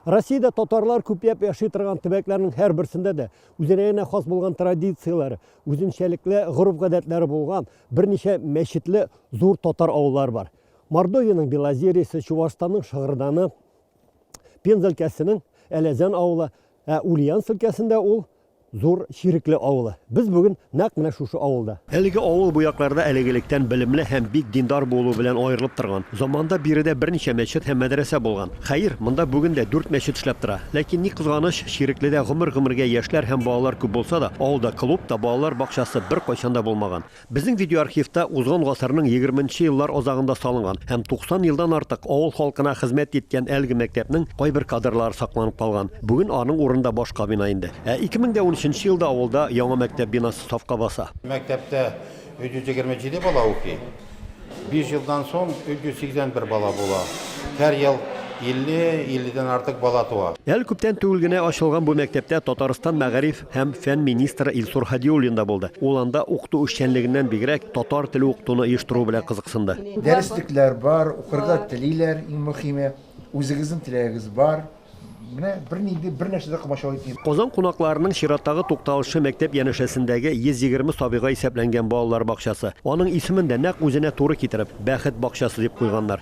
Россиядә татарлар күпләп яши торган төбәкләрнең һәрберсендә дә үзенә генә хас булган традицияләре, үзенчәлекле гореф-гадәтләре булган берничә мәчетле зур татар авыллары бар. Мордовиянең Белозерьесы, Чувашстанның Шыгырданы, Пенза өлкәсенең Әләзән авылы, ә Ульяновск өлкәсендә ул Зур Чирекле авылы. Без бүген нәкъ менә шушы авылда. Әлеге авыл бу якларда элек-электән белемле һәм бик диндар булуы белән аерылып торган. Заманында биредә берничә мәчет һәм мәдрәсә булган. Хәер, монда бүген дә дүрт мәчет эшләп тора. Ләкин, ни кызганыч, Чирекледә гомер-гомергә яшьләр һәм балалар күп булса да, авылда клуб та, балалар бакчасы беркайчан да булмаган. Безнең видеоархивта узган гасырның егерменче еллар азагында салынган һәм 90 елдан артык авыл халкына хезмәт иткән әлеге мәктәпнең кайбер кадрлары сакланып калган. Бүген аның урынында башка бина инде. Ә 2013 елда авылда яңа мәктәп бинасы сафка баса. Мәктәптә 327 бала укый. Биш елдан соң 381 бала була. Һәр ел 50, 50 дән артык бала туа. Әле күптән түгел генә ачылган бу мәктәптә Татарстан мәгариф һәм фән министры Илсур Һадиуллин да булды. Ул анда укыту эшчәнлегеннән бигрәк, татар теле укытуны оештыру белән кызыксынды. Дәреслекләр бар, укырга телиләр, иң мөхиме, үзегезнең теләгегез бар. Менә бернинди бер нәрсә дә комачаулый тиен. Казан кунакларының чираттагы тукталышы мәктәп янәшәсендәге 120 сабыйга исәпләнгән балалар бакчасы. Аның исемен дә, нәкъ үзенә туры китереп, Бәхет бакчасы дип куйганнар.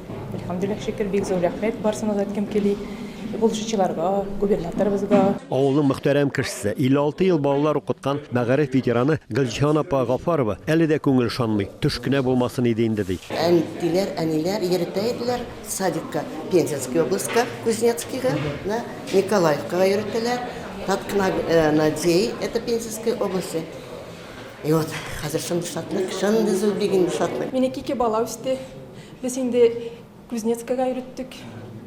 Әлхәмдүлилләһ шөкер, бик зур рәхмәт, барсына да әйткем кели, булышучыларга, губернаторыбызга. Авылның мөхтәрәм кешесе, 56 ел балалар укыткан мәгариф ветераны Гөлҗиһан апа Гафарова әле дә күңел ышанмый, төш кенә булмасын иде инде, ди. Әнтиләр, әниләр йөретә иделәр садикка, Пензенский областька, Кузнецкийга, да, Николаевкага йөретәләр, Таткна, Надей, это Пензенской области. И вот, хәзер шундый шатлык, шундый зур бигенде шатлык. Минеке ике бала үсте, Без инде Кузнецкага йөреттек.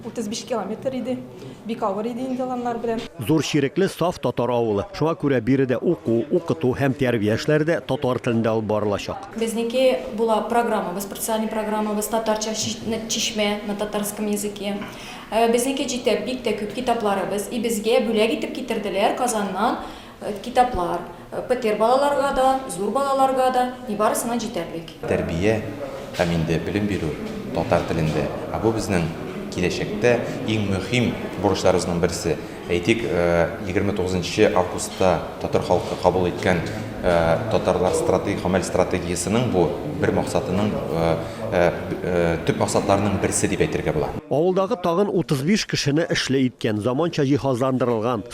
35 километр иде. Бик авыр иде инде аланнар белән. Зур Чирекле саф татар авылы. Шуңа күрә биредә уку, укыту һәм тәрбия эшләре дә татар телендә алып барылачак. Безнеке була программабыз, специальный программабыз, татарча Чишмә на татарском языке. Безнеке җитә бик тә күп китапларыбыз. И безгә бүләк итеп китерделәр Казаннан Китаплар, петер балаларга да, зур балаларга да, и барысына җитәрлек. Тәрбия һәм инде белем бирү татар телендә, ә бу безнең киләчәктә иң мөһим бурычларыбызның берсе. Әйтик, 29 нчы августта татар халкы кабул иткән Татарлар стратегик гамәл стратегиясенең бу бер максатының төп максатларының берсе дип әйтергә була. Авылдагы тагын 35 кешене эшле иткән, заманча җиһазландырылган,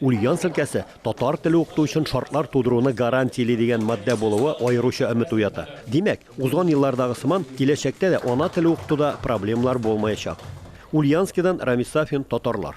Ульян селкәсе татар теле укыту өчен шартлар тудыруны гарантияли дигән матдә булуы аеруча өмет уята. Димәк, узган еллардагы сыман, киләчәктә дә ана теле укытуда проблемалар булмаячак. Ульяновскидан Рамис Сафин, Татарлар.